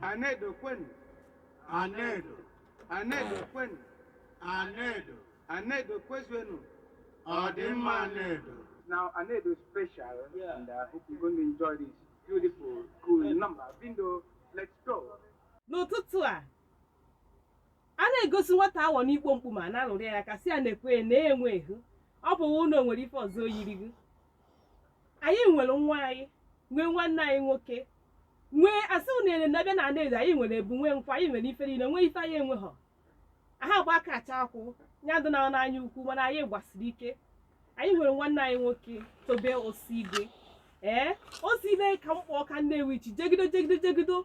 Anaedo kwenu. Anaedo. Anaedo kwenu. Anaedo. Anaedo kwezuenu. Ọ dị mma Anaedo. Now Anaedo is special Yeah. and I hope you're going to enjoy this beautiful, cool number. Bindo, let's go. n'ụtụtụ a a na-egosi nwata awọ n'ikpo mkpu ma na-alụrụ ya aka sị ya nekwee na-enwe ehu ọ bụ ụlọ nwere ife ọzọ o yiri gị anyị nwere nwaanyị nwee nwanne anyị nwoke nwee asị ụnụ ele na-abịa na Anaedo anyị nwere egwu nwee nkwa anyị nwere ife niile nwee ife anyị enweghọ aha gba aka acha akwụ ya dị na n'anya ukwu mana anyị gbasiri ike anyị nwere nwanne anyị nwoke Tobe Osigwe ee Osigwe ka m kpọ ọka Nnewichi jegido jegido jegido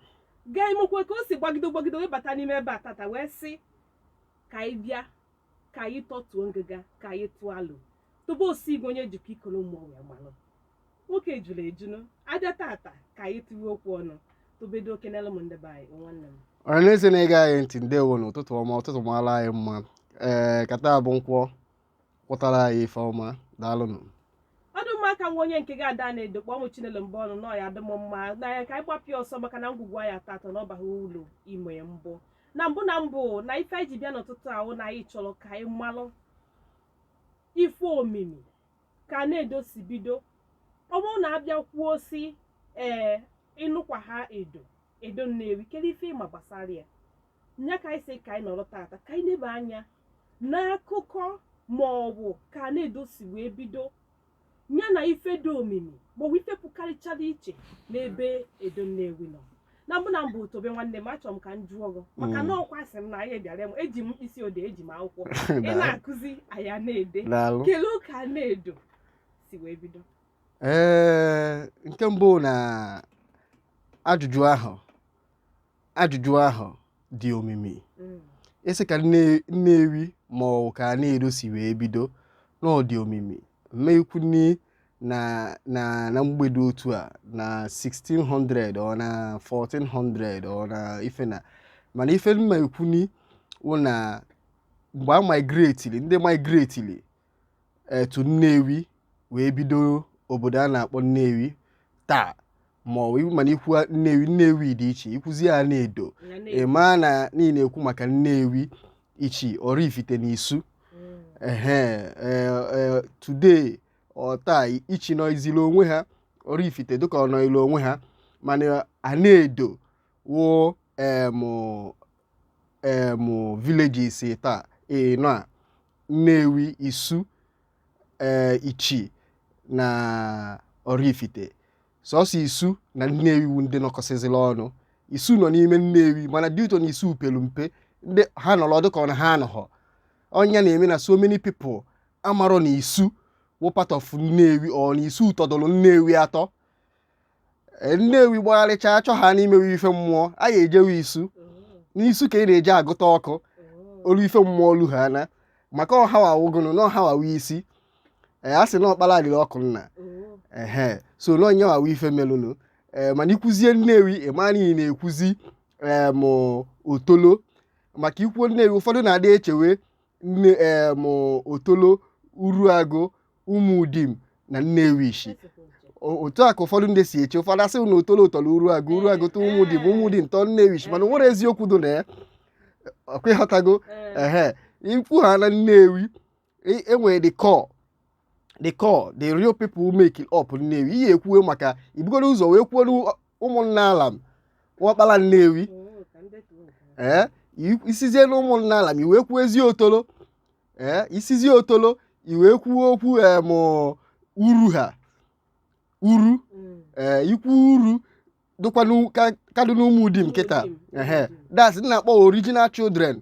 gaa imekwe ka o si gbagido gbagido wee bata n'ime ebe a tata wee sị ka anyị bịa ka anyị tọtuo ngịga ka anyị tụọ alo Tobe Osigwe onye jikọ Ikolo Mmụọ wee malụ nwoke juru eju na-abịa tata ka anyị tiwe okwu ọnụ Tobe doo kenelụ m ndị be anyị o nwanne m ọra na eze na-ege anyị ntị ndewo nụ ụtụtụ ọma ụtụtụ mara anyị mma ee ka taa bụ Nkwọ kwọtara anyị ife ọma daalụnụ ọ dị mma ka nwa onye nke gị Ada Anaedo kpọọ mụ Chinelo Mbonu na ọ ya-adị m mma na ya ka anyị gbapịa ọsọ maka na ngwugwu a ya-atọ atọ na ọ baghị ulu ime mbọ na mbụ na mbụ na ife anyị ji bịa n'ụtụtụ a wụ na anyị chọrọ ka anyị malụ ife omimi ka Anaedo si bido ọ bụrụ na a bịa kwuo sị ee ị nụkwa aha Edo Edo Nnewi kedu ife ị ma gbasara ya nya ka anyị sị ka anyị nọrọ tata ka anyị neba anya n'akụkọ ma ọ bụ ka Anaedo si wee bido ya na ife dị omimi maọbụ ife pụkarịchara iche n'ebe Edo Nnewi nọ na mbụ na mbụ Tobe nwanne m achọrọ m ka m jụọ gị maka na ọ kwa asị m na anyị bịara m eji m mkpịsị odee eji m akwụkwọ ị na-akụzi anyị a na-ede daalụ kelee ka Anaedo si wee bido ee nke mbụ na ajụjụ ahụ ajụjụ ahụ dị omimi mm. ị sị ka Nnewi ma ọ ka Anaedo si wee bido na ọ dị omimi m ma-ekwuni na na na mgbe dị otu a na 1600 ọ na 1400 ọ na ife na mana ife m ma-ekwuni wụ na mgbe a migratili ndị migratili to Nnewi wee bido obodo a na-akpọ Nnewi taa ma ọ bụ mana ikwu Nnewi Nnewi dị iche ikwuzi Anaedo ị maa na ị na-ekwu maka Nnewi Ichi Oraifite na Isu ehe today taa Ichi nọziri onwe ha Oraifite dịka ọ nọili onwe ha mana Anaedo wụ um villages taa ee nọ a Nnewi Isu ee eh, Ichi na Oraifite sọsọ Isu na Nnewi wu ndị nọkọsịzịla ọnụ Isu nọ n'ime Nnewi mana due to na Isu pelu mpe ndị ha nọrọ dịka ọ na ha anọghọ ọ ya na-eme na so many people amarọ na Isu wụ part of Nnewi ọ na Isu tọdụrụ Nnewi atọ e, nnewi gbagharịcha achọ ha n'imewe ife mmụọ a ga-ejewe isu n'isu ka ị na-eji agụta ọkụ olu ife mmụọ olu ha na maka ọ hawa wụgụnụ na ọ hawa wụ isi ee a sị na ọkpara adịrị ọkụ nna ehe so na ọ nyewa wụ ife melụnụ ee mana i kwuzie nnewi ị ma na ị na-ekwuzi em otolo maka i kwuo nnewi ụfọdụ na-adị echewe na em Otolo Uruagu Umudim na nnewi ishi O- otu a ka ụfọdụ ndị si eche ụfọdụ asị na Otolo tọrọ Uruagu Uruagu tọ Umudim Umudim tọ nnewi ishi mana o nwere eziokwu dị na ya ọ kwa ị ghọtago ehe ikwu ha na nnewi e- e nwere the core the core the real people making up Nnewi ihe ekwuwe maka i bugodu ụzọ wee kwuo n'ụ- Umunnealam wụ ọkpala Nnewi ee i- i sizie na Umunnealam i wee kwuozie Otolo ee i sizie Otolo i wee kwuo okwu em uru ha uru ee ikwu uru dịkwa n'u- ka- ka dị n'Umudim kịta ehe that's na-akpọ original children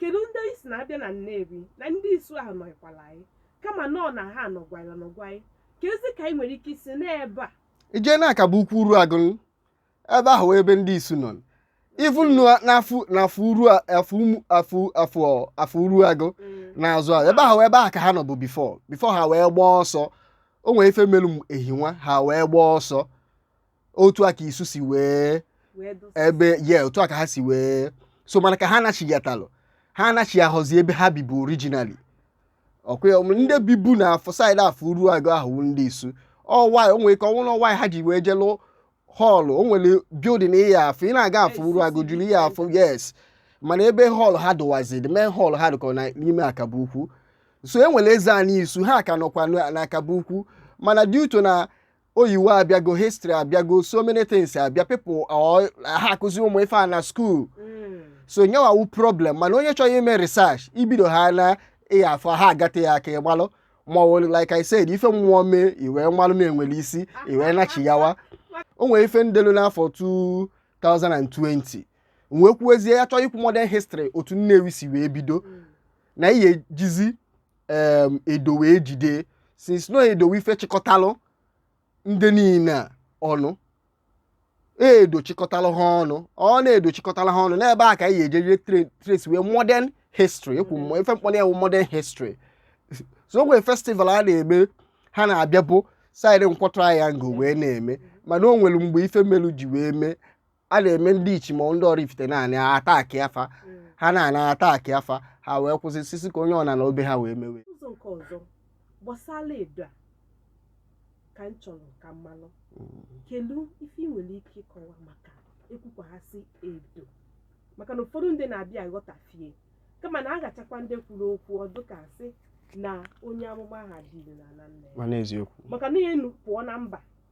kedu ndị anyị si na-abịa na Nnewi na ndị isu ahụ nọkwara anyị kama na ọ na ha nọgwara nọgwa anyị ka ezi ka anyị nwere ike isi n'ebe a i jee na Akaboukwu Uruagu ebe ahụ ebe ndị isu nọ even n'afọ n'afọ uru a- afọ umu- afọ afọ afọ Uruagu Mm. n'azụ a ebe ahụ ebe ahụ ka ha nọ bụ before before ha wee gbaa ọsọ o nwere ife melu m ehinwa ha wee gbaa ọsọ otu a ka isu si wee wee dụsa ebe ye otu a ka ha si wee so mana ka ha nachigatalụ ha anachihọzi ebe ha bibu originally ọkwa ya, ndị bibu na afọ side afọ Uruagu ahụ wụ ndị isu ọ why o nwere ike ọ wụ na ọ why ha ji wee je lụọ hall o nwere building ị ya-afụ ị na-aga afọ Uruagu juru ị ya-afụ yes mana ebe hall ha dụwazi the main hall ha dụkọ na- n'ime Akaboukwu so e nwere eze anyị isu ha ka nọkwa na- na Akaboukwu mana due to na oyiwo abịago history abịago so many things abịa people ọ- ha akụzi ụmụ ife a na school Mm. so nyewa wu problem mana onye chọrọ ime research i bido ha na ị ya-afụ ha agate ya aka ịgbalụ ma ọ wụrụ like I said ife mmụọ mee i wee malụ m enwere isi i wee nachigawa o nwere ife m delu n'afọ 2020 wee kwuezie ya chọọ ikwu modern history otu Nnewi si wee bido na ihe jizi em, edo wee jide since no edo ife chịkọtalụ ndị niile a ọnụ edo chịkọtalụ ha ọnụ ọ na Edo chịkọtalụ ha ọnụ n'ebe a ka anyị ga-ejeje tra- trace wee modern history ekwu mmụọ ife m kpọrọ ya wụ modern history so o nwe festival a na-eme ha na-abịa bụ side Nkwọ Triangle wee na-eme mana o nwere mgbe ife melu ji wee mee a na-eme ndị Ichi ma ndị Oraifite naanị attack afa ha na-ana attack afa ha wee kwụsị sị sị ka onye ọna nọọ be ha wee mewe ụzọ nke ọzọ gbasara edo a ka m chọrọ ka m malụ kedu ife ị nwere ike ịkọwa maka ekwukwa asị edo maka na ụfọdụ ndị na-abịa aghọtafie kama na agachakwa ndị kwuru okwu ọ dụ ka asị na onye amụma aha dịrị n'ala nna ya mana eziokwu maka na enu pụọ na mba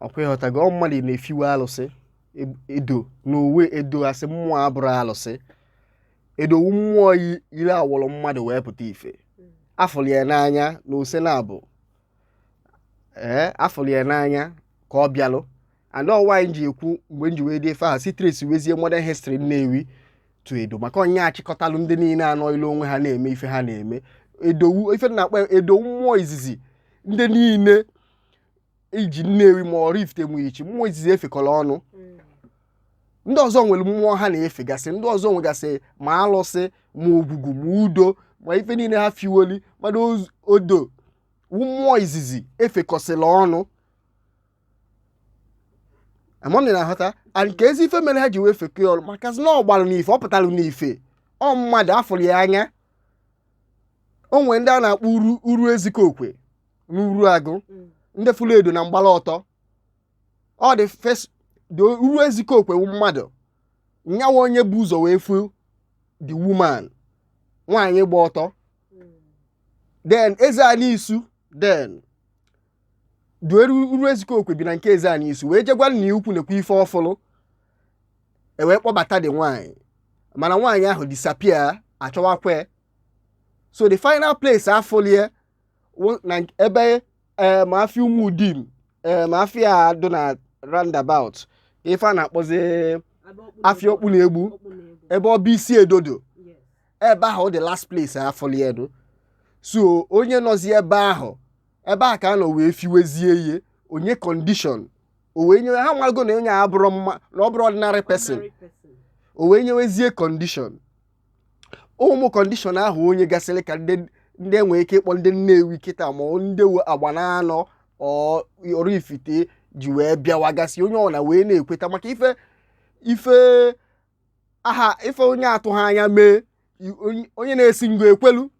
ọ kwa ị ghọtago ọ mmadụ na-efiwe alụsị e- edo n'onwe edo asị mmụọ abụrọ alụsị Edo wu mmụọ yi- yiri awọrọ mmadụ wee pụta ife a fụrụ ya n'anya na ose na-abụ ee a fụrụ ya n'anya ka ọ bịalụ and ọwa anyị ji ekwu mgbe m ji wee dị ife ahụ si trace wezie modern history Nnewi to edo maka ọ ya chịkọtalụ ndị niile a nọọlụ onwe ha na-eme ife ha na-eme Edo wu ife na-akpọ ya Edo wu mmụọ izizi ndị niile iji Nnewi ma Oraifite ma Ichi mmụọ izizi e fekọrọ ọnụ ndị ọzọ nwere mmụọ ha na-efegasị ndị ọzọ nwegasị ma alụsị ma ogwugwu ma udo ma ife niile ha fiwoli mana Edo mmụọ izizi efekọsịla ọnụ ama m ị na-aghọta and kezi ife mere ha ji wee fekọọ ọnụ maka na ọ gbalụ n'ife ọ pụtalụ n'ife ọ mmadụ a fụrụ ya anya o nwere ndị a na-akpọ uru uru ezikokwe na Uruagụ Mm. ndị fụrụ edo na mgbala ọtọ ọ the first dị uru ezikokwe wu mmadụ nyawa onye bu ụzọ wee fụ the woman nwaanyị gba ọtọ Mm. then Ezeanị Isu then duere uru ezikokwe bi na nke Ezeanị Isu wee jegwa nna ya ukwu nekwa ife ọ fụlụ e wee kpọbata the nwaanyị mana nwaanyị ahụ disappear a chọwakwa so the final place a fụlụ ya na ebe eh, ama afịa Ụmụdim eh, ama afịa dụ na roundabout ife a na-akpọzi afịa Okpuno Egbu ebe ọ bụ isi Edo dụ ebe ahụ ọ the last place a fụlụ Edo so onye nọzi ebe ahụ ebe a ka a nọ wee fiwezie ya o nye condition o wee nyewe ha marago na onye a abụrọ mma na ọ bụrọ ordinary person o wee nyewezie condition ụmụ condition ahụ o nyegasịrị ka ndị ndị e nwere ike ịkpọ ndị Nnewi kịta ma ọ ndị we agba na anọ ọ Oraifite ji wee bịawagasị onye ọwụna wee na-ekweta maka ife ife aha ife onye atụghị anya mee i- onye- onye na-esi ngo ekwelu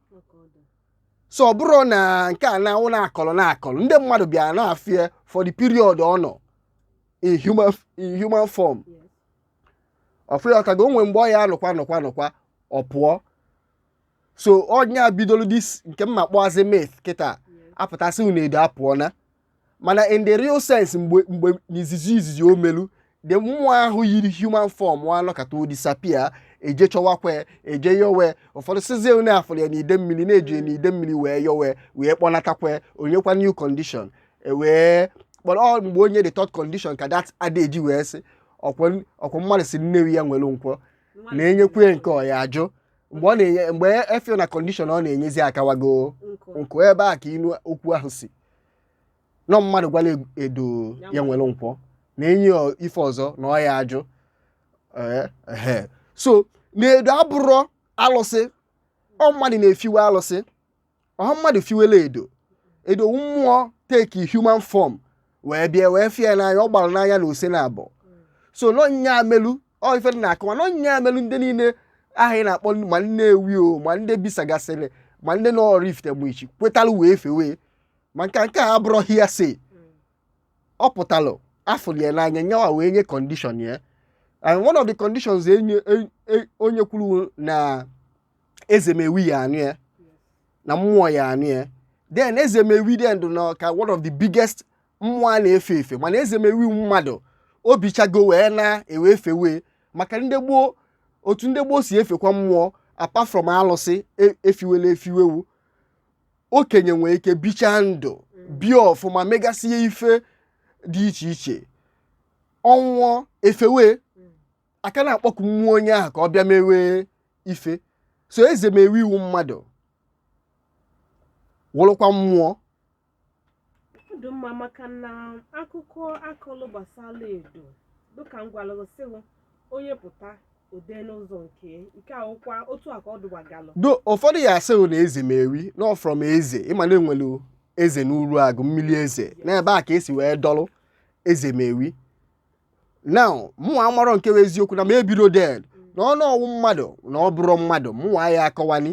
so ọ bụrụ na nke a na-awụ na-akọrọ na-akọrọ ndị mmadụ bịara na-efie for the period ọ nọ in human in human form ọfụ ya ọkago o nwe mgbe ọ ya anọkwa nọkwa nọkwa ọ pụọ so onye a bidoro this nke m na-akpọzi myth kịta apụta sị unu edo apụọna mana in the real sense mgbe mgbe n'izizi izizi o melu the mmụọ ahụ yiri human form anọkata o disappear eje chọwakwa ya eje yowe ụfọdụ sịzie onye afụrụ ya n'ide mmiri na-eji ya n'ide mmiri wee yowe wee kpọnatakwa ya, o nyekwa new condition e wee kpọrọ ọ mgbe o nye the third condition ka that adage wee sị ọkwa ọkwa mmadụ sị Nnewi ya were nkwọ na enyekwa ya nke ọ ya ajụ mgbe ọ na-enye mgbe efio na condition ọ na-enyezi akawago nkụ ebe a ka inu okwu ahụ si na ọ mmadụ gwala eg- edo Ya ya were nkwọ na enye ya ife ọzọ na ọ ya ajụ Ee, ehe. so na edo abụrọ alụsị ọ mmadụ na-efiwe alụsị ọ mmadụ fiwela edo edo wụ mmụọ take human form wee bịa wee fie n'anya ọ gbara n'anya na ose na abụọ so na ọ nya melu ọ ife na-akọwa na ọ nya merụ ndị niile ahụ ị na-akpọ ma Nnewi o ma ndị bisagasịrị ma ndị nọ Oraifite ma Ichi kwetara wee fewe ma nke nke a abụrọ hearsay ọ pụtalụ afụrụ ya n'anya nyawa wee nye condition ya and one of the conditions enye e, e, onye kwuru na ezemewi ya anụ ya na mmụọ ya anụ ya then ezemewi dị ndụ na ka one of the biggest mmụọ a na-efe efe mana ezemewi mmadụ o bichago wee naa e wee fewe maka ndị gboo otu ndị gboo si efekwa mmụọ apart from alụsị e- efiwela efiwewu okenye nwere ike bichaa ndụ bie ọfụma megasịa ife dị iche iche ọ nwụọ efewe a ka na-akpọku mmụọ onye ahụ ka ọ bịa mewe ife so ezemewi wụ mmadụ wụrụkwa mmụọ ọ dị mma maka na akụkọ akọlụ gbasara edo dịka m gwara gị sị gị, onye pụta o dee n'ụzọ nke ya. nke a ụkwa otu a ka ọ dụwagalụ do ụfọdụ ya asị na ezemewi na ọ from eze ị ma na enwere eze n'Uruagụ mmiri eze n'ebe a ka esi wee dọrọ ezemewi now mụnwa amarọ nke bụ eziokwu na m ebirọ then na ọnụ ọ wụ mmadụ na ọ bụrọ mmadụ mụnwa aya akọwani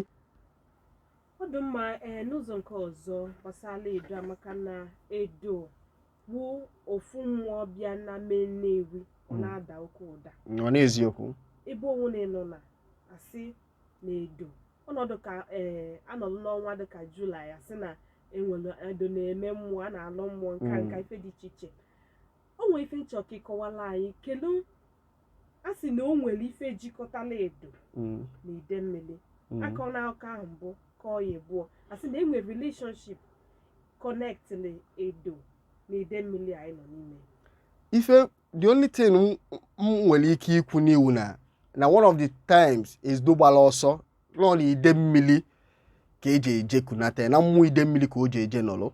ọ dị mma ee n'ụzọ nke ọzọ gbasara edo a maka na edo bụ ofu mmụọ bịa n'ime Nnewi ọ Mm. na-ada oke ụda ọ n'eziokwu ebe o nwe na ị nụna asị na edo ọnọdụ ka ee anọdụ n'ọnwa dịka July asị na enwere edo na-eme mmụọ a na-alọ mmụọ nka Mm. nka ife dị iche iche o nwere ife m chọ ka ị kọwala anyị kedu a sị na o nwere ife jikọtala edo Mm, na ide mmiri mm. akọ na akọ ahụ mbụ kọọ ya abụọ a sị na e nwere relationship connectili edo na ide mmiri anyị nọ n'ime ife the only thing m m nwere ike ikwu ni wụ na na one of the times edo gbala ọsọ na ọ na ide mmiri ka eji eje kunata ya, na mmụọ ide mmiri ka o ji eje nọrọ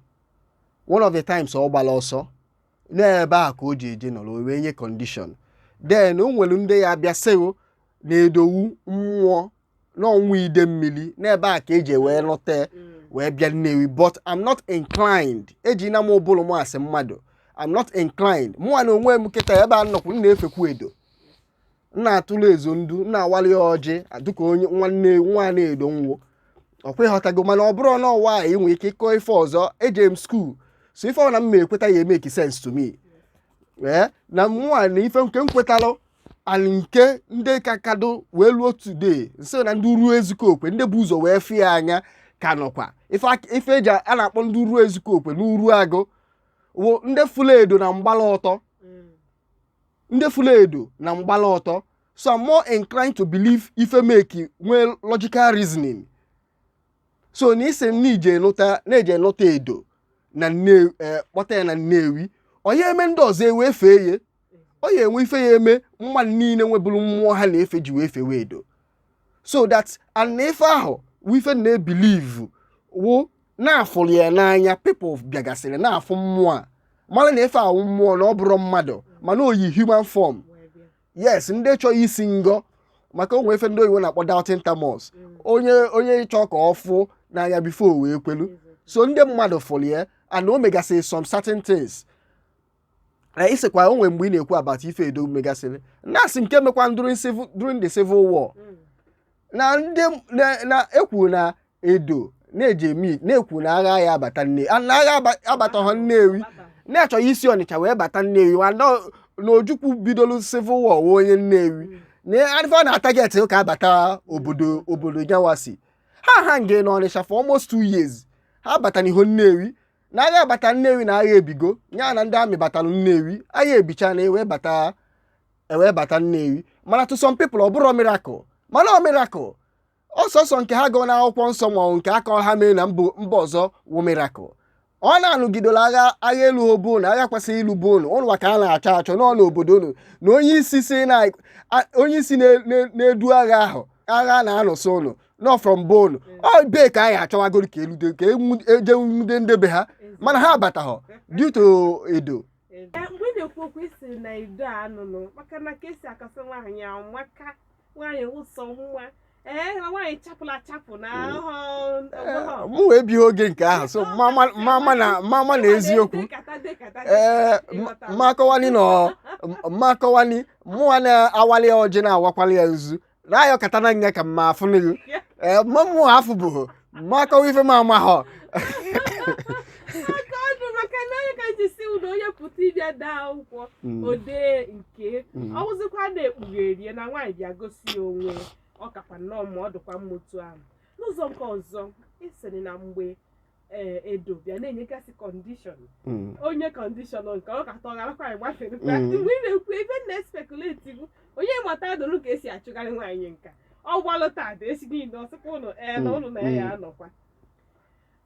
one of the times ọ gbala ọsọ n'ebe a ka o ji eje nọrọ o wee nye condition then o nwere ndị ya abịa sị ghụ na edo wụ mmụọ na ọ nwa ide mmiri n'ebe a ka eji wee nụta wee bịa nnewi but i'm not inclined eji na m ụbụrụ m asị mmadụ i'm not inclined mụnwa na onwe m kịta ebe a m nọkwu m na-efekwu edo m na-atụrụ ezo ndu m na-awali ya ọjị dịka onye nwanne nwa na edo nwo ọkwa ịghọtago mana ọ bụrụ na ọwa a inwe ike ịkọ ife ọzọ eje m school so ife ọ na m ma ekweta ya emeki sense to me ee na mụnwa na ife nke m kwetalụ and nke ndị ka kadụ wee luo today nso na ndị ruo ezukọ okwe ndị bu ụzọ wee fụ ya anya ka nọkwa ife ak- ife eji a na-akpọ ndị ruo ezukọ okwe na Uruagụ wụ ndị fụlụ edo na mgbala ọtọ ndị fụlụ edo na mgbala ọtọ so I'm more inclined to believe ife meki nwee logical reasoning so na ị sị m na eje nụta na eje nụta edo na Nnewi eh, kpọta ya na Nnewi ọ nya eme ndị ọzọ ewee fee ya ọ ya enwe ife ya eme mmadụ niile nwebụrụ mmụọ ha na-efe ji wee fewe edo so that and na ife ahụ wụ ife m na-ebelieve wụ na a fụrụ ya n'anya people bịagasịrị na-afụ mmụọ a mara na ife a wụ mmụọ na ọ bụrọ mmadụ mana o yi human form yes ndị chọọ isi ngọ maka o nwe ife ndị oyibo na-akpọ doubting Thomas onye onye chọọ ka ọ fụ n'anya before o wee kwelu so ndị mmadụ fụrụ ya and o megasịrị some certain things na ị sịkwa o nwere mgbe ị na-ekwu about ife edo megasịrị na-asị nke mekwa during civil during the civil war Mm. na ndị na- na ekwu na edo na-eji eme na-ekwu na agha ya abata nne a- na agha aba- abataghọ nnewi Baba. na-achọghị isi ọnịcha wee bata nnewi ma na na ojukwu bidoro civil war wụ onye nnewi Mm. na adịfe ọ na-atarget ka a bata obodo obodo nyawasi ha hang na ọnịcha for almost two years ha abatanụhọ nnewi na agha bata nnewi na agha ebigo ya na ndị army batara nnewi agha ebicha na ewee bata ewee bata nnewi mana to some people ọ bụrọ miracle mana ọ miracle ọ sọsọ nke ha gụọ n'akwụkwọ nsọ ma ọ nke aka ha mee na mba ọzọ wụ miracle ọ na-anụgidola agha agha eluo be unu agha kwesịrị ilu be unu unu ka a na-achọ achọ n'ọnụ obodo unu na onye isi na-edu agha ahụ agha a na-anụsi unu nọ from bone ọ be ka anyị achọwagoro ka elude ka enwu- eje nwude ndebe ha mana ha abataghọ due to Edo Ee, mgbe ị na-ekwu okwu ị sị na Edo a nụnụ maka na ka e si akọsị nwaanyị ahụ maka nwaanyị ụsọ nwa ee na nwaanyị chapụla achapụ na ahụ Ee, mụwa ebighị oge nke ahụ so mama mama na mama na eziokwu ee mmakọwani na mmakọwani mụwa na-awali ya ọjị na-awakwali ya nzu na ayọ kata na nga ka mma afụ n'ihu ee mma mụ afụ bụ mma akọwa ife m amahọ Aka ọnụ maka na onye ka ji si ụlọ onye pụta ịbịa daa akwụkwọ odee nke ọ wụzikwa na-ekpugherie na nwaanyị bịa gosi ya onwe ya, ọ kakwa nnọọ ma ọ dịkwa mma otu ahụ n'ụzọ nke ọzọ ị sịrị na mgbe ee Edo bịa na-enyegasị kọndishọn Mm. o nye kọndishọn nọkata ọ garakwa anyị gbafere kwa Mm. mgbe ị na-ekwu ebe m na-espekuleti bụ onye mata adụrụ ka e si achụgharị nwaanyị nka ọ gbaluta ada esi niile ọ sịkwa ụlọ ee na Mm, ụlọ na ya mm. anọkwa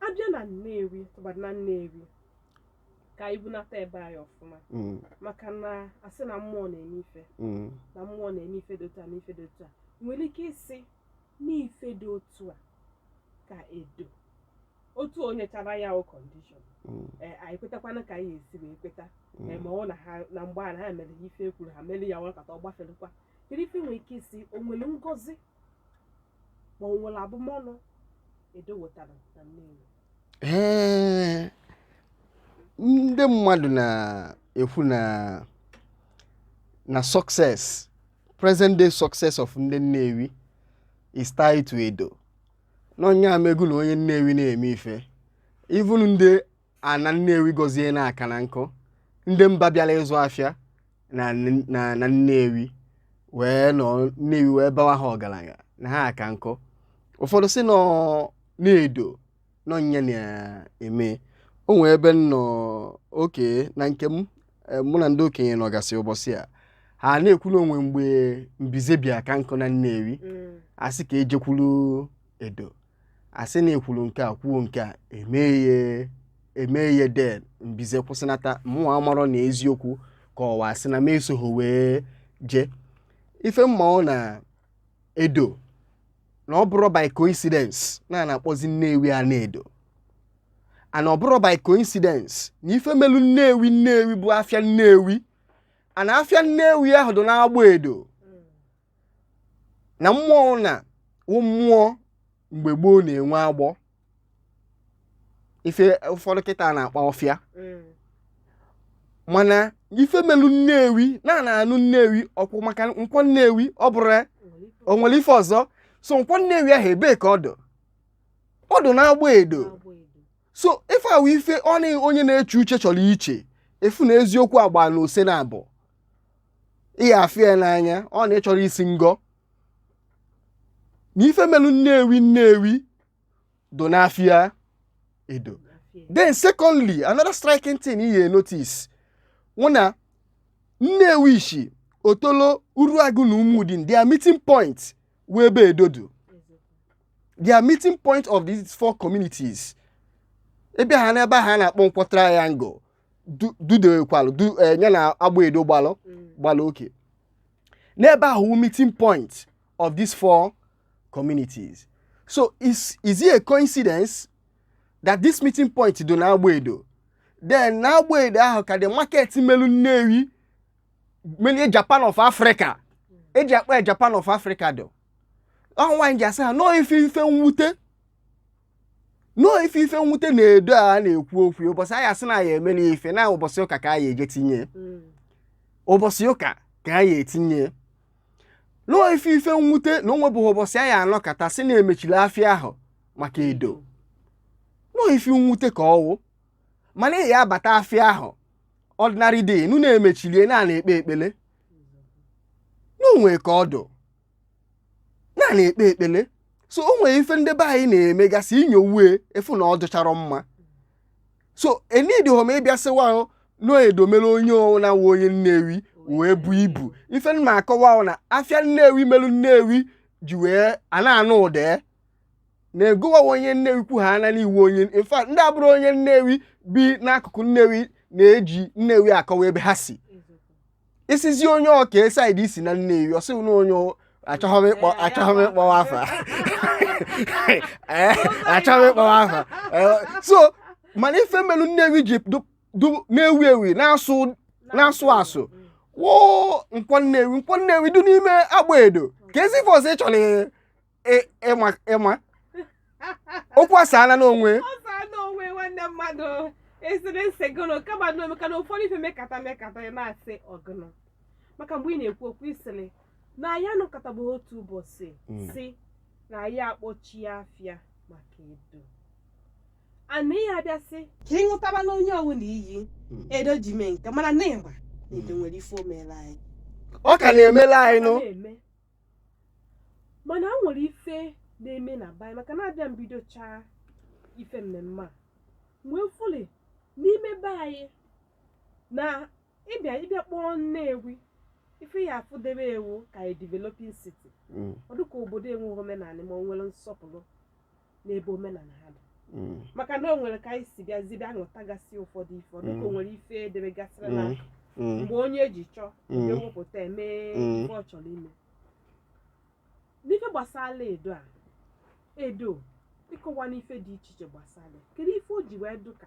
abịa na Nnewi tụbara na Nnewi ka anyị bunata ebe anyị ọfụma Mm. maka na a sị na mmụọ na-eme ife Mm. na mmụọ na-eme ife dị otu a na ife dị otu a nwere ike ịsị n'ife dị otu a ka Edo otu o nyechara ya o kọndishọn Mm. ee anyị kwetakwanụ ka anyị esi wee kweta Mm. ee ma ọ na ha na mgbe a na ha mere ife e kwuru ha mere ya nọkata ọ gbafelekwa kedu ife e nwere ike ịsị o nwere ngozi ma o nwere abụmọnụ Edo wetara na Nnewi Ee, ndị mmadụ na-ekwu na na success present day success of ndị Nnewi is tied to Edo na ọ nya mego na onye Nnewi na-eme ife even ndị ana Nnewi gọzie na-aka na nkụ ndị mba bịara ịzụ afịa na na na Nnewi wee nọ Nnewi wee bawa ha ọgaranya na ha aka nkọ ụfọdụ sị na ọ Edo na ọ nya na-eme o nwee ebe m nọ oke na nke m eh, mụ na ndị okenye nọgasị ụbọchị a ha na-ekwu na o nwe mgbe mbize bịa ka nkụ na Nnewi a sị ka e jekwuru Edo a sị na e kwuru nke a kwuo nke a e mee ya e mee ya den mbize kwụsịnata mụnwa amarọ na eziokwu ka ọ wụ asị na m esoghị wee jee ife m ma wụ na Edo na ọ bụrọ by coincidence na a na-akpọzi Nnewi Anaedo and ọ bụrọ by coincidence na ife melu Nnewi Nnewi bụ afịa Nnewi ana afịa Nnewi ahụ dị n'Agbọ Edo na mmụọ na mmụọ mgbe gboo na-enwe agbọ ife ụfọdụ kịta na-akpọ ọfịa mm. mana ife melu nnewi na a na-anụ nnewi ọkwa maka nkwọ nnewi ọ bụrụ o nwere ife ọzọ so nkwọ nnewi ahụ ebee ka ọ dụ ọ dụ n'agba edo so ife a wụ ife ọ na onye na-eche uche chọrọ iche ị fụ na eziokwu agba na ose na abụ ị ga-afụ ya n'anya ọ na ị chọrọ isi ngọ na ife melu nnewi nnewi dụ n'afịa edo then secondly another striking thing ị ga-enotice wụ na nnewichi otolo uruagụ na umudim their meeting point wụ ebe edo dụ their meeting point of these four communities ebe ahụ n'ebe ha na-akpọ nkwọ triangle du- dudekwalụ du- eh, ya na agba edo gbalụ gbalụ oke n'ebe ahụ wụ meeting point of these four communities so is, is it a coincidence that this meeting point dị n'agba edo then n'agba edo ahụ ka the market melu nnewi melu japan of africa e ji akpọ ya japan of africa dụ ọnwa m ji asị ha na ọ ife ife mwute na ọ ife ife mwute na edo a na-ekwu okwu ya, ụbọchị anyị asị na anyị emela ife na ụbọchị ụka ka anyị eje tinye ya. Mm. ụbọchị ụka ka anyị etinye ya. na ọ ife ife mwute na o nwebeghị ụbọchị anyị anọkata sị na e mechili afịa ahụ maka edo na ọ ife mwute ka ọ wụ mana ị ya abata afịa ahụ ordinary day nụ na e mechilie na a na-ekpe ekpele na o nwe ka ọ dụ na a na-ekpe ekpele so o nwere ife ndị be anyị na-emegasị i nyowe ị fụ na ọ dụchara mma so enidịghọ m ịbịa sịwa ahụ na edo mere onye ọwụna wụ onye nnewi wee bu ibu ife m na-akọwa wụ na afịa nnewi melu nnewi ji wee a na-anụ ụda ya na-egowa onye nnewi kwu ha ana na ị wụ onye in fact ndị abụrọ onye nnewi bi n'akụkụ nnewi na-eji nnewi akọwa ebe ha si ị sịzị onye ọka side i si na nnewi ọ sị gị na onye achọghị m ịkpọ achọghị m ịkpọwa afa Eh, achọghị m ịkpọwa afa Eh, so mana ife melu nnewi ji du- du- na-ewu ewu na-asụ na-asụ asụ wụ nkwọ nnewi nkwọ nnewi dị n'ime agba edo kezi ife ọzọ ị chọrọ ị- ịma ịma okwu asaala n'onwe ọ saa n'onwe nwanne mmadụ esiri nsị gụnụ kama na omeka na ụfọdụ ife mekata mekata ya na-asị ọgụnụ maka mgbe ị na-ekwu okwu isiri na anyị anọkọtaghị otu ụbọchị Mm. si na anyị akpọchie afịa maka Edo ana ihe abịa sị ka ị ṅụtaba na onye ọwụna iyi Mm. Edo ji mee nke mana na ịma na Edo nwere ife o meela anyị ọ ka na-emela anyị nụ na-eme mana o nwere ife na-eme na be anyị maka na a bịa mbidochaa ife mmemme a wee fụli n'ime be anyị na ịbịa ịbịa kpọọ Nnewi ife ya afụdebe ewu ka a developing city Mm. ọ dịka obodo enweghị omenala ma o nwere nsọpụrụ n'ebe omenala ha dị Mm. maka na o nwere ka anyị si bịazi bịa ṅụtagasị ụfọdụ ife ọ dịka o Mm. nwere ife e debegasịrị na Mm. Mm. mgbe onye ji chọọ Mm. e wepụta eme Mm. ife ọ chọrọ ime n'ife gbasara Edo a Edo ịkọwanị ife dị iche iche gbasara ya. kedu ife o ji wee dụka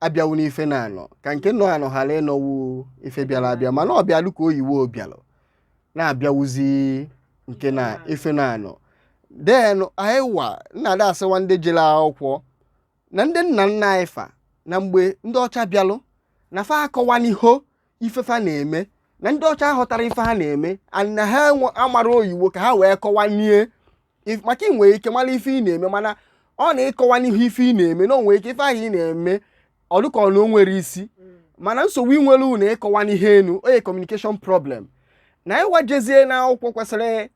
abịa wụ n'ife na-anọ ka nke nọ anọ ghara ịnọ wụ ife bịara abịa mana ọ bịalụ ka oyiwo obialụ na-abịa wụzị nke na ife na-anọ then anyị wa na-ada asịwa ndị jere akwụkwọ na ndị nna nna anyị fa na mgbe ndị ọcha bịalụ na fa akọwaniho ife fa na-eme na ndị ọcha ghọtara ife ha na-eme and na ha enwe- amara oyiwo ka ha wee kọwanie If- maka ị nwere ike mara ife ị na-eme mana ọ na ị kọwaniho ife ị na-eme na o nwere ike ife ahụ ị na-eme ọ dịka na o nwerọ isi mana nsogbu i nwere unu ịkọwa n'ihe enu onye communication problem na anyị wa jezie na akwụkwọ kwesịrị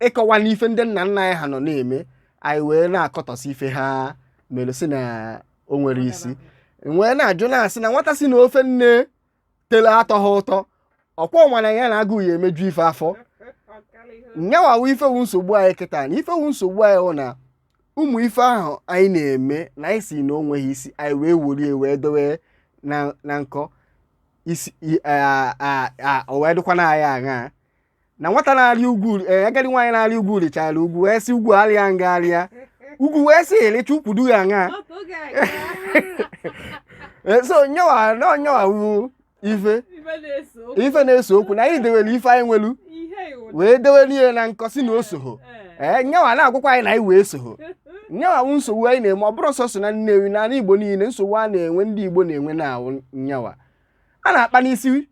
ịkọwanị ife ndị nna nna anyị ha nọ na-eme anyị wee na-akọtọsị ife ha mere sị na o nwerọ isi wee na-ajụ na-asị na nwata sị na ofe nne tele atọhọ ụtọ ọkwa nwere ya na agụụ ya emeju ife afọ nyawa wụ ife wụ nsogbu anyị kịta na ife wụ nsogbu anyị wụ na ụmụ ife ahụ anyị na-eme na anyị sị na o nweghị isi anyị wee worie wee dowe na na nkọ isi i- a- a- a- o wee dịkwa na anyị aṅa na nwata na-arị ugwu eh, agadi nwaanyị na-arị ugwu rịchara ugwu wee sị ugwu arịa nga arịa ugwu wee sị a rịchaa ukwu dụ ya aṅa eh, so nyawa na nyawa wụ ife ife na-ese okwu na anyị dewere ife anyị nwelu wee dewere ihe na nkọ isi na o soho ee eh, nyawa na-agwakwa anyị na anyị wa esoho nyawa wụ nsogbu anyị na-enwe ọ bụrọ sọsọ na Nnewi na ala Igbo niile nsogbu a na-enwe ndị Igbo na-enwe na-awụ nyawa a na-akpa n'isi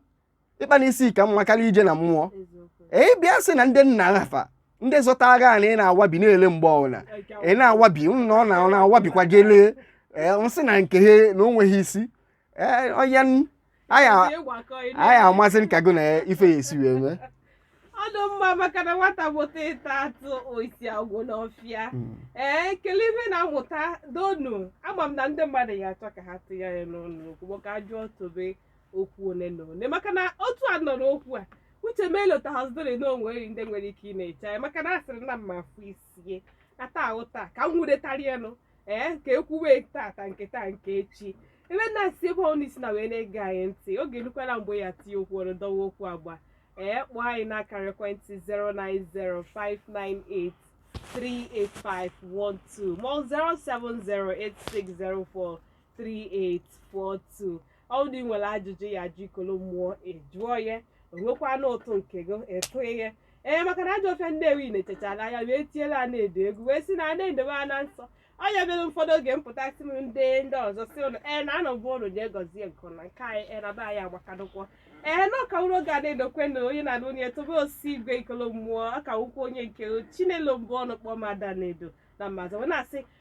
ịkpa n'isi ka mma karịa ije na mmụọ ee bịa sị na ndị nna afa ndị zọta agha a na ị na-awabi na-ele mgbe ọbụla ị na-awabi m na ọ na- ọ na-awabikwa gị lee ee m sị na nke ha na o nweghị isi ee onye n- anyị a- anyị amasị m ka gị na ife ya esi wee mee ọ dụ mma maka na nwata mụta ịta atụ oisi agwụ n'ọfịa Mm. ee kele ife na-amụta donu ama m na ndị mmadụ ya-achọ ka ha tinye ya n'ọnụ okwu ma ka a jụọ Tobe okwu ole na ole maka na otu a nọ n'okwu a uche m elotahazidori na o nwere ndị nwere ike ịna-eche anyị maka na a sịrị na mma afụ isie ata ahụ taa ka m nwuretarianụ ee ka e kwuwe tata nke taa nke echi ebe na-asị ebe ọwụna i si nọ wee na-ege anyị ntị oge erukwala mgbe ị ya-etinye okwu ọnụ dọwa okwu agba ee kpọọ anyị n'akara ekwentị 09059838512 ma ọ 07086043842 ọ wụdị i nwere ajụjụ ị ya-ajụ Ikolo Mmụọ ị jụọ ya o nwekwanụ ụtụ nke gị ị tụnye ee maka na ajọ ọfịa Nnewi na-echechara anya wee tiela Anaedo egwu wee sị na Anaedo bụ ana nsọ onye mere ụfọdụ oge mpụta si m ndị ndị ọzọ si ụlọ ee na anọ bụ ụlọ nye gọzie nke na nke anyị ee na be anyị agbakadụkwọ ee na ọ ka wuru oge Anaedo kwe na onye na onye Tobe Osigwe Ikolo Mmụọ ọ ka wukwu onye nke Chinelo Mbọnụ kpọọ m Ada Anaedo na Maazị wee na-asị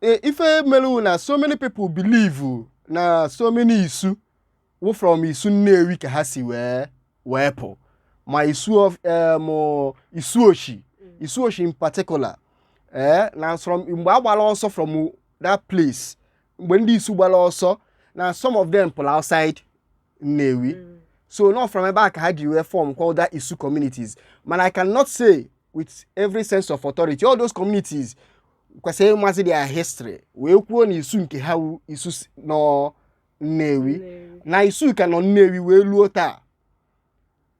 e, ife mere na so many people believe na so many isu wụ from Isu Nnewi ka ha si wee wee pụ ma isu of em, isu oshi isu oshi in particular ee na from mgbe a gbara ọsọ from that place mgbe ndị isu gbara ọsọ na some of them pụrụ outside Nnewi so na from ebe a ka ha ji wee form called that isu communities mana i cannot say with every sense of authority all those communities kwesịrị ịmazi their history wee kwuo na isu nke ha wu isu si- nọ nnewi Nnewi. na isu ka nọ nnewi wee luo taa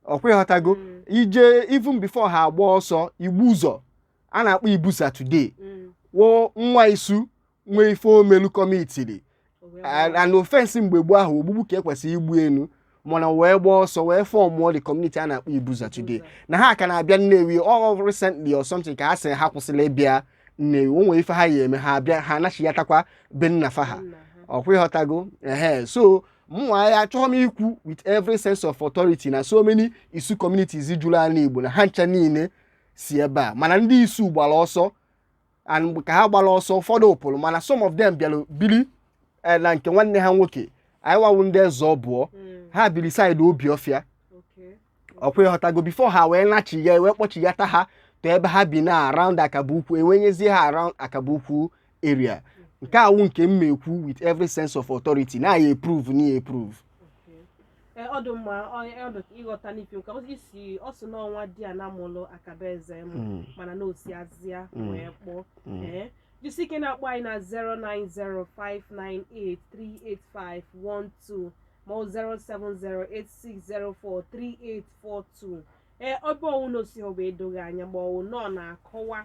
ọ kwa ị ghọtago Mm. ije even before ha agba ọsọ Igbuzọ a na-akpọ Ibusa today Mm. wụ nwa isu nwere ife o melu commitiri an offence mgbe gboo ahụ ogbugbu ka e kwesịrị igbu e nụ mana wee gbaa ọsọ wee formụọ the community a na-akpọ Ibuza today na ha ka na-abịa Nnewi ọ recently or something ka ha sị ha kwụsịla ịbịa Nnewi o nwere ife ha ya-eme ha abịa ha anachiyatakwa be nna fa ha ọ kwa ị ghọtago ehe so mụnwa ya achọghị m ikwu with every sense of authority na so many isu communities juru ala Igbo na ha ncha niile si ebe a mana ndị isu gbara ọsọ and ka ha gbara ọsọ ụfọdụ pụrụ mana some of them bịara biri eh, na nke nwanne ha nwoke anyịwa wụ ndị Eze Ọbụọ Mm. ha biri side Obiọfịa Okay. ọ kwa ị ghọtago before ha wee nachigha wee kpọchighata ha to ebe ha bi na around Akaboukwu e wee nyezie ha around Akaboukwu area nke a wụ nke m na-ekwu with every sense of authority na ya eprove na ya eprove Ee, ọ dị mma ọ- ọ dị ka ịghọta n'ife nka ozi isi ọ sị n'ọ nwadiana mụlụ Akaboezem Mm, mana na o si Azịa Mm. wee kpọọ mm. ee jisi ike na-akpọ anyị na 09059838512 ma ọ 07086043842 ee ọ bụ ọ wụ na o si ọ bụ edoghị anya ma ọ wụ n'ọ na-akọwa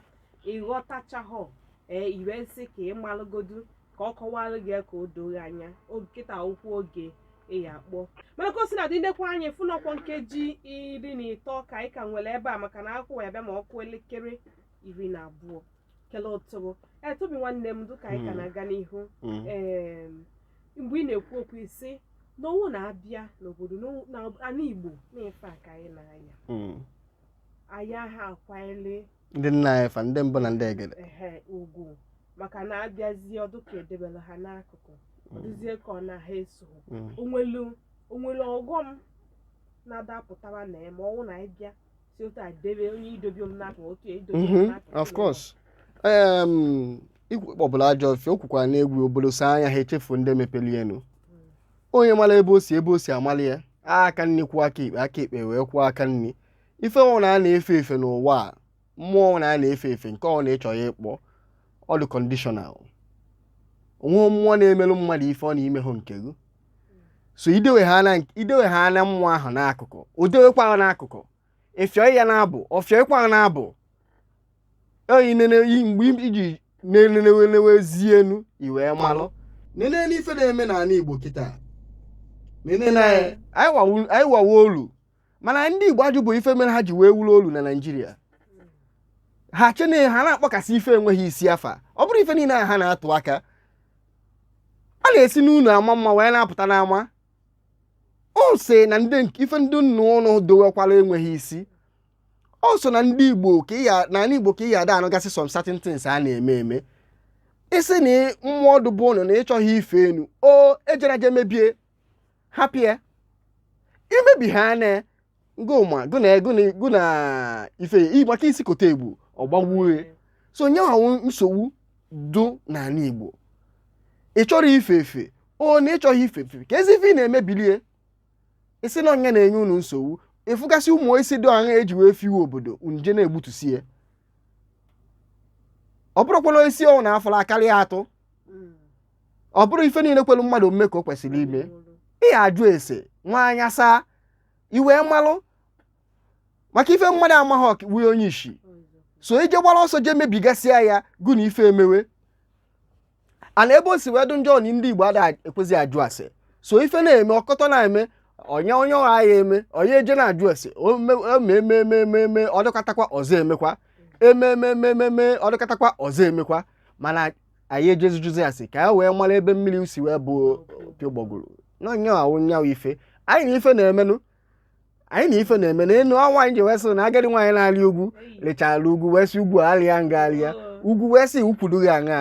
ị ghọtachahọ ee i wee sị ka ị malụgodu ka ọ kọwara gị ya ka o doo gị anya oge kịta wụkwa oge ị ya-akpọ mana ka o sina dị ndekwa anyị fụnọkwọ nkeji iri na ịtọ ka anyị ka nwere ebe a maka na akụkọ ya-abịa ma ọ kụọ elekere iri na abụọ nke ụtụtụ e Tobi nwanne m dịka anyị ka Mm. na-aga n'ihu Mm. em, mgbe ị na-ekwu okwu ị sị na ọ wụ na a bịa n'obodo n'ọ wụ- na ana Igbo na ife a ka anyị na-anya Mm. anyị aha akwanyere ndị nna anyị fa ndị mbụ na ndị egede ehe ugwu maka na a bịazie ọ dụ ka e debere ha n'akụkụ ọ dịzie ka ọ na ha eso Mm. o nwelu o nwere ọghọm na-adapụtara na ya ma ọ wụ na anyị bịa si otu a debe onye idobi m n'akụkụ otu ya idobi m Mhm, n'akụkụ of course Em, ikwu kpọbụla ajọ ọfịa o kwukwara na egwu obodo saa anya ha echefuo ndị mepeli enu onye mara ebe o si ebe o si amali ya aka nni kwọọ aka ekpe aka ekpe wee kwọọ aka nni ife ọ wụna a na-efe efe n'ụwa a mmụọ ọ wụna a na-efe efe nke ọ wụna ị chọọ ya ị kpọọ ọ dị conditional o nwe mmụọ na-emelụ mmadụ ife ọ na i mehụ nke gị so i dewehana i dewehana mmụọ ahụ n'akụkụ o dewekwa ha n'akụkụ ị fịọ ya n'abọ ọ fịọkwa ha n'abọ oyi nene i- mgbe i ji na-elenewezie enu i wee malụ nene n'ife na-eme n'ala Igbo kịta nene na anyị enwehọ- anyị enwehọ olu mana ndị Igbo ajụbe ife mere ha ji wee wuru olu na Naịjirịa ha chee na ha na-akpọkasị ife enweghị isi afa ọ bụrụ ife niile a ha na-atụ aka a na-esi n'ụlọ ama mma wee na-apụta n'ama ọ sị na ndị ife ndị nna ụnụ dowekwara enweghị isi ọ sọ na ndị Igbo ka ya n'ana Igbo ka ị ya ada anụgasị some certain things a na-eme eme ị sị na mmụọ dụbụ ụnọ na ị chọghị ife enu o ejera je mebie hapụ ya i mebihana gụ ma gụ na gụ na ife maka isi kote ebu ọ gbagbue so n'ife nwa wụ nsogbu dụ n'ala Igbo ị chọrọ ife efe ọ na ị chọghị ife efe kezi ife ị na-emebili ya ị sị na ọ ya na-enye unu nsogbu ị fụgasị ụmụ osisi dị ọha e ji wee fiwe obodo i je na-egbutusi ya ọ bụrụkwa na osisi ọ wụna a fụla karịa atụ ọ bụrụ ife niile kwelu mmadụ omume ka o kwesịrị ime ị ya-ajụ ese nwa anya saa ị wee malụ maka ife mmadụ amaghị ọka wee onye isi so ije gbara ọsọ jee mebigasịa ya gụ na ife emewe ana ebe o si wee dụ njọ na ndị Igbo ada ekwezi ajụ ase so ife na-eme ọkọtọ na-eme onye onye ọha ya eme onye eje na-ajụ ase emememememe ọ dụkatakwa ọzọ emekwa emememememe ọ dụkatakwa ọzọ emekwa mana anyị ejezi jụzie ase ka a wee mara ebe mmiri si wee baa opi ụgbọgụrụ n'onye ahụ nya wụ ife anyị na ife na-emenụ anyị na ife na-eme n'elu ụwa anyị ji wee sị na agadi nwaanyị na-arị ugwu rịchara ugwu wee sị ugwu arịa m gị arịa ugwu wee sị ukwu dụ gị aṅa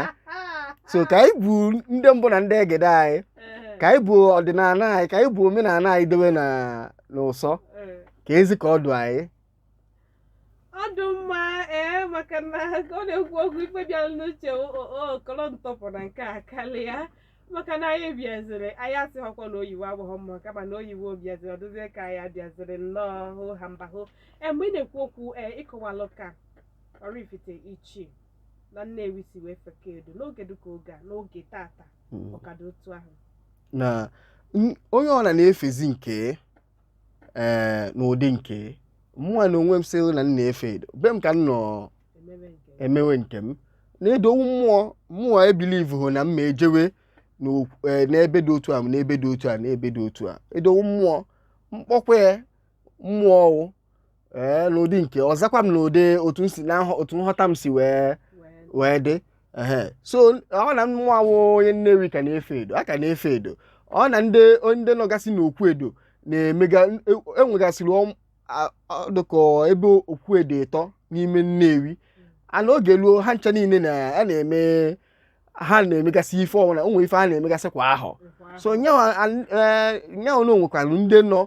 so ka anyị bụ ndị mbụ na ndị egede anyị ka anyị bụ ọdịnala anyị ka anyị bụ omenala anyị dowe na n'ụsọ ka ezi ka ọ dụ anyị ọ dụ mma ee maka na ọ na-ekwu okwu ife bịara n'uche okoro ntọpụ na nke a karịa maka na anyị bịaziri anyị asịghọkwa na oyiwo adụghọ mma kama na oyiwo bịaziri ọ dịzie ka anyị bịaziri nnọọ hụ ha mba hụ ee mgbe ị na-ekwu okwu ee ị kọwalụ ka Oraifite Ichi na Nnewi si wee fekọ Edo n'oge dịka oge a n'oge tata ọ ka dụ otu ahụ na n- onye ọbụla na-efezi nke ee eh, n'ụdị nke mụnwa na onwe m sị na m na-efe Edo be m ka m nọ emewe nke m na Edo wụ mmụọ mmụọ ebilivu hụ na m ma ejewe eh, n'ebe dị otu a n'ebe dị otu a n'ebe dị otu a Edo wụ mmụọ m kpọkue ya mmụọ ọ wụ ee n'ụdị nke ọzọkwanụ n'ụdị otu m si na nhọ- otu nghọta m si wee wee dị ehe so ọ na mụnwa wụ onye Nnewi ka na-efe Edo a ka na-efe Edo ọ na ndị ndị nọgasị n'okwu Edo na-emega e- enwegasịrị ọm- a- a- dịka ebe okwu Edo ịtọ n'ime Nnewi a na oge ruo ha ncha niile na a na-eme ha na-emegasị ife ọbụla o nwere ife ha na-emegasị kwa ahọ so nya wụ nya wụ na o nwekwara ndị nọ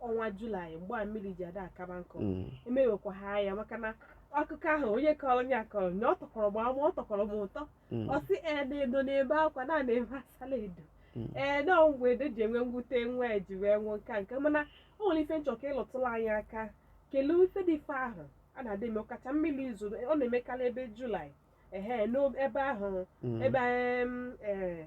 ọnwa Julaị mgbe a mmiri ji ada akaba nkụ Mm. emewekwa ha ya maka na akụkọ ahụ onye kọrọ onye a kọrọ na ọ tọkọrọ m ama ọ tọkọrọ m ụtọ Mm. ọ sị ee na Edo na-ebe akwa na na-ebe Asala Edo Mm. ee na mgbe Edo ji enwe mwute nwa ya ji wee nwụọ nka nke mana o nwere ife m chọ ka ị lụtụla anyị aka kelee ife dị ife ahụ a na-adị eme ọkacha mmiri izu ọ na-emekarị ebe Julaị ehe n'ebe ahụ Mm. ebe em, eh,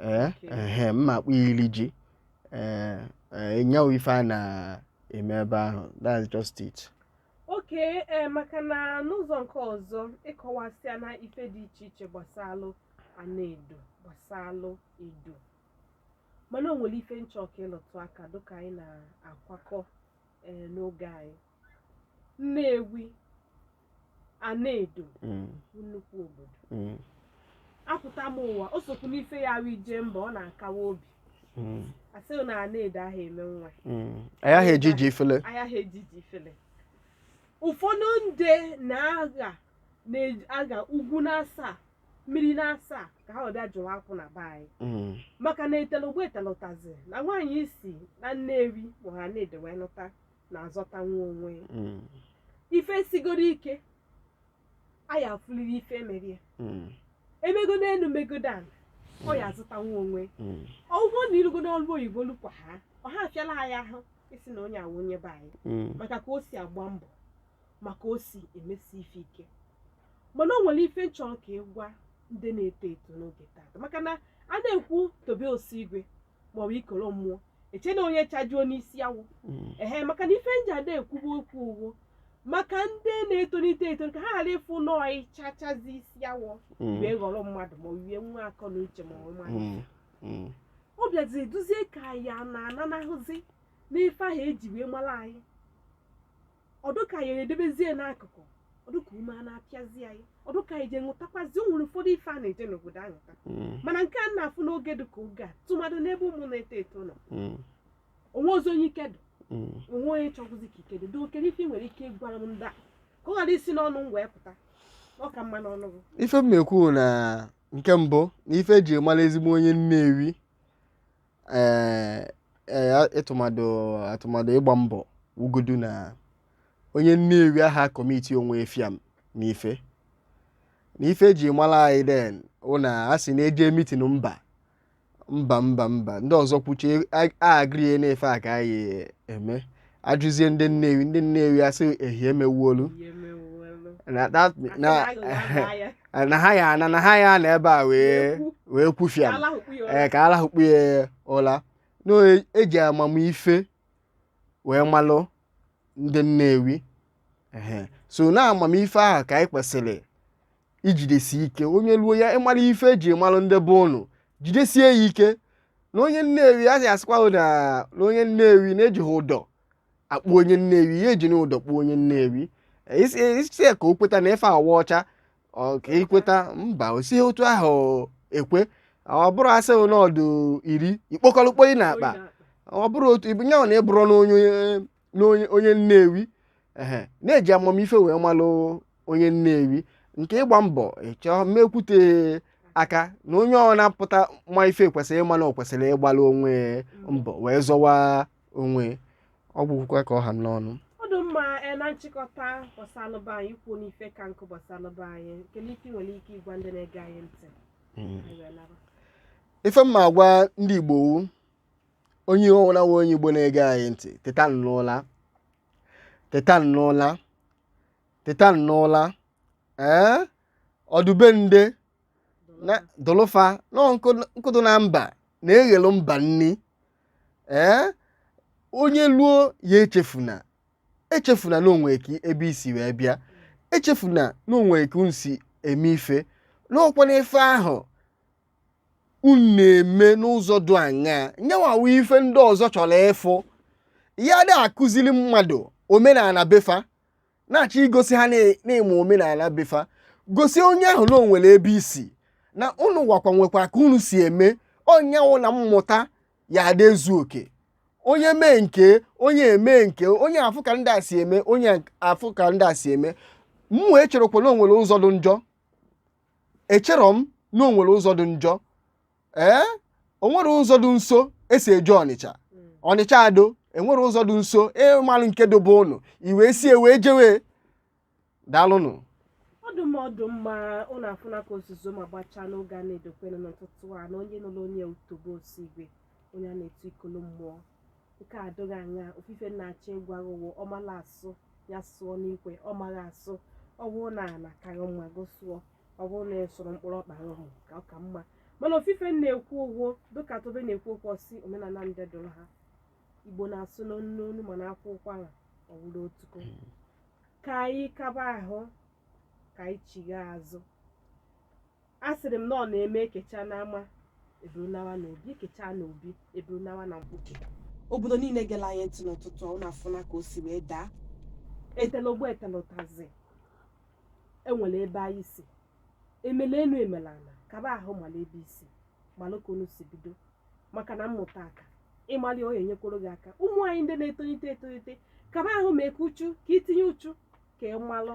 ee ehe m na-akpọ ya iri ji ee ee nya wụ ife a na-eme ebe ahụ that's just it okay ee maka na n'ụzọ nke ọzọ ị kọwasịana ife dị iche iche gbasalụ Anaedo gbasalụ Edo mana o nwere ife m chọ ka ị lụtụ aka dịka anyị na-akwakọ ee n'oge anyị Nnewi Anaedo Mm, bụ nnukwu obodo mm, apụta m ụwa o sokwu n'ife ya wụ ije mba ọ na-akawa obi mm, asị na Anaedo aha eme nwa mm. a yaha eji ji ifele a yaha eji ji ifele ụfọdụ ndị na-aga ugwu na-asa mmiri na-asa ka ha ọbịa jụrụ akwụ na be anyị Mm, maka na etelogbe etelụtazi na nwaanyị i si na Nnewi bụ Anaedo wee lụta na-azọtanwu onwe ya Mm. ife sigodo ike a ya-afụliri ife e mere ya Mm. e megodo elu megodo ala ọ ya azọtanwu onwe Mm. ọ bụrụ na i rugodo n'ọrụ oyibo lukwa ha ọ ha afịala ya ahụ ịsị na onye a wụ onye be anyị Mm. maka ka o si agba mbọ maka o si emesi ife ike mana o nwere ife nchọrọ ka ị gwa ndị na-eto eto n'oge tata maka na a na-ekwu Tobe Osigwe maọbụ Ikolo Mmụọ e chee na onye chajuo n'isi awọ Mm. ehe maka na ife nji ada ekwubu okwu uwo maka ndị na-etolite eto ka ha ghara ịfụ nọọ ịchachazi isi awọ Mm. wee ghọrọ mmadụ ma nwee nwa akọ na uche ma ọ mmadụ Mm. Mm. ọ bịazi dụzie ka ya na ananahụzi n'ife ahụ eji wee mara anyị ọ dụ ka anyị edebezie n'akụkụ ọ dụ ka ume a na-apịazi anyị ọ dụ ka anyị je ṅụtakwazi o nwere ụfọdụ ife a na-eje n'obodo aṅụta Mm, mana nke a na-afụ n'oge dị ka oge a tụmadụ n'ebe ụmụ na-eto eto nọ mm, o nwehozi onye ike dị mm. o nwe onye chọkwuzi ka ike dị dị okere ife ị nwere ike ịgwara m ndị a ka ọ ghara isi n'ọnụ m wee pụta ọ ka mma n'ọnụ gị ife m na-ekwu na nke mbụ na ife eji mara ezigbo onye Nnewi tụmadụ ịgba mbọ wugodu na onye Nnewi aha commit onwe ya fiam na ife na ife eji mara anyị then wụ na a sị na-eje meeting mba mba mba mba ndị ọzọ kwuchie a agree na ife a ka anyị eme a jụzie ndị Nnewi ndị Nnewi asị ehie emewuolu ihe mewuelu na that- Asị na na aghụghọ aghụghọ ya. na ha ya ana na ha ya anọ ebe a wee Wee kwu. wee kwu fiam. A lahụkpu ya ụla. ka a lahụkpu ya ụla na e ji amamife wee malụ ndị Nnewi Ehe. so na amamife ahụ ka anyị kwesịrị ijidesi ike onye luo ya ịmara ife eji mara ndị be ụnụ jidesie ya ike na onye Nnewi a sị asịkwa na na onye Nnewi na ejighị ụdọ akpụ onye Nnewi ya ejina ụdọ kpụ onye Nnewi ị sị ka o kweta na ife a wụ ọcha ọ ka ikweta mba o sighi otu ahụ ekwe ọ bụrụ a sị na ọ dụ iri ikpokọlụkpo ị na-akpa ọ bụrụ otu ibunye ọ na ịbụrụ na onye n'onye onye nnewi ehe na-eji amamife wee malụ onye nnewi nke ịgba mbọ ịchọọ mmekwute aka na onye ọwụna pụta ma ife kwesịrị ịma na ọ kwesịrị ịgbalụ onwe mbọ wee zọwa onwe ọ bụkwụkwa ka ọ ha m n'ọnụ ọ dị mma e, na nchịkọta gbasalụba anyị ikwu n'ife ka nkụ gbasalụba anyị nke n'ife i nwere ike ịgwa ndị na-ege anyị ntị Anyị wee laba. ife m ma agwa ndị igbo wu onye ọwụna wụ onye igbo na-ege anyị ntị teta n'ụla teta n'ụla teta n'ụla ee ọ dụ be ndị na-adụlụ fa na nkụ dụ na mba na-eghelu mba nni ee onye luo ya echefuna echefuna na o nwekwa ebe i si wee bịa echefuna na o nwe ka unu si eme ife n'ọkwa n'ife ahụ unu na-eme n'ụzọ dị anya ya nwa wụ ife ndị ọzọ chọrọ ịfụ ya ada akụziri mmadụ omenala be fa na-achọ igosi ha na- na-eme omenala be fa gosi onye ahụ na o nwere ebe i si na unu nwakwa nwekwa ka unu si eme ọ ya wụ na mmụta ya ada ezu oke onye mee nke onye eme nke onye afụ ka ndị a si eme onye afụ ka ndị a si eme mụwa echerọkwa na o nwere ụzọ dị njọ echerọ m na o nwere ụzọ dị njọ ee o nwere ụzọ dị nso esi eje ọnịcha ọnịcha ado enwere ụzọ dị nso ị malụ nke dụ be ụnụ i wee sie wee jewe daalụnụ ọ dụ mma ọ dụ mma ụnụ afụna ka ozuzo ma gbachaa n'oge a na-edokwenu n'ụtụtụ a na onye nụrụ onye wụ tobe osigwe onye a na-etu ikolo mmụọ nke a dịghị anya ofu ife m na-achọ ịgwa gị wụ ọ mala asụ ya sụọ n'ikwe ọ maghị asụ ọ bụrụ na ala karị mma gị sụọ ọ bụrụ na ị sụrụ mkpụrụ ọkpa ahụ ka ọ ka mma mana ofu ife m na-ekwu wụ dịka tobe na-ekwu okwu ọ sị omenala ndị dụrụ ha igbo na-asụ n'onu n'onu mana a kwaa ụkwara ọ wụrụ otu ka anyị kaba ahụ ka anyị chigha azụ a sịrị m na ọ na-eme ekechaa n'ama e buru nawa na obi ekechaa na obi e buru nawa na mkpuke obodo niile gela anyị ntị n'ụtụtụ a ụnụ afụna ka o si wee daa etela ogbo etela ụtazị enwere ebe anyị si emela enu emela ala kaba ahụ mala ebe i si malụ ka unu si bido maka na mmụta aka ị malị onye nyekwuru gị aka ụmụ anyị ndị na-etolite etolite kaba ahụ mee ka uchu ka i tinye uchu ka ị malụ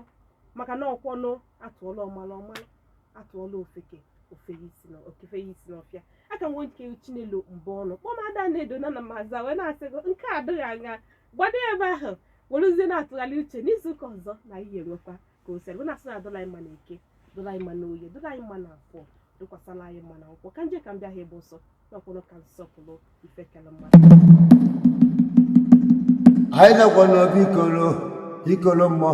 maka na ọ kwanụ a tụọla ọmalụ ọ malụ atụọla ofeke o fenye isi n'ọfịa aka nwe nke chinelo mbaọnụ kpọọ m ada anaedo na na m aza wee na-asị gị nke a adịghị anya gbado ya ebe ahụ werezie na-atụgharị uche n'izu ụka ọzọ na ihe enwekwa ka o sere na-asị na dịlị anyị mma na eke dịlị anyị mma na oye dịlị anyị mma na afọ dịkwasịlị anyị mma na nkwọ ka m je ka m bịa ha ebe ọsọ n'ọkwụrụ ka nsọpụrụ ife kele mmadụ anyị nọkwa n'obi ikolo ikolo mmụọ